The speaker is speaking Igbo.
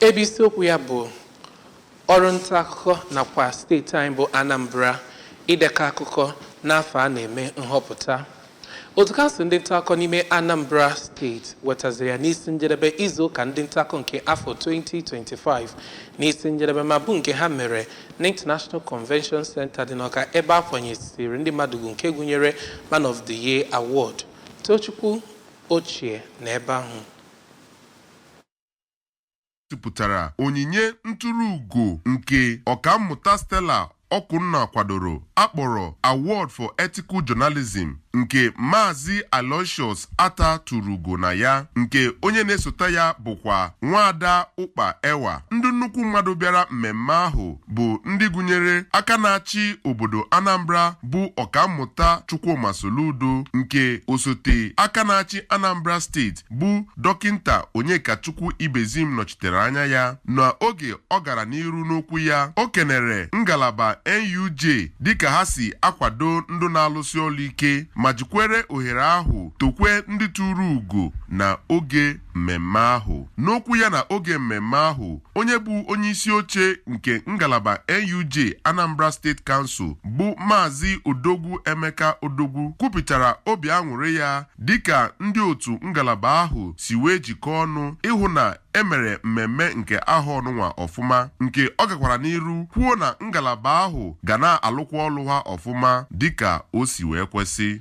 Ebe isiokwu ya bụ ọrụ nta akụkọ nakwa steeti anyị bụ Anambra idekọ akụkọ n'afọ a na-eme nhọpụta. Otu kansụl ndị nta akụkọ n'ime Anambra steeti wetaziri ya n'isi njedebe izu ụka ndị nta akụkọ nke afọ 2025 n'isi njedebe ma bụ nke ha mere n'International Convention Center dị n'Ọka ebe a kwanyesiri ndị mmadụ ugwu nke gụnyere Man of the Year Award. Tochukwu ochie na ebe ahụ. gosipụtara onyinye nturu ugo nke Ọkammụta Stella Okunna kwadoro a kpọrọ Award for Ethical Journalism nke Maazị Aloysius Attah turu ugo na ya nke onye na-esota ya bụkwa Nwaada Ụkpa Ewa. Ndị nnukwu mmadụ bịara mmemme ahụ bụ ndị gụnyere aka na-achị obodo Anambra bụ Ọkammụta Chukwuma Soludo nke osote aka na-achị Anambra steeti bụ dọkịnta Onyekachukwu Ibezim nọchitere anya ya na oge ọ gara n'iru n'okwu ya o kenere ngalaba NUJ dịka ha si akwado ndị na-alụsi ọlụ ike ma jikwere ohere ahụ tokwe ndị turu ugo na oge mmemme ahụ n'okwu ya na oge mmemme ahụ onye bụ onye isi oche nke ngalaba NUJ Anambra State Council bụ Maazị Odogwu Emeka Odogwu kwupụtara obi aṅụrị ya dịka ndị otu ngalaba ahụ si wee jikọọ ọnụ ịhụ na e mere mmemme nke ahọ ọnụnwa ọfụma nke ọ gakwara n'iru kwuo na ngalaba ahụ ga na-alụkwa ọlụ ha ọfụma dịka o si wee kwesị.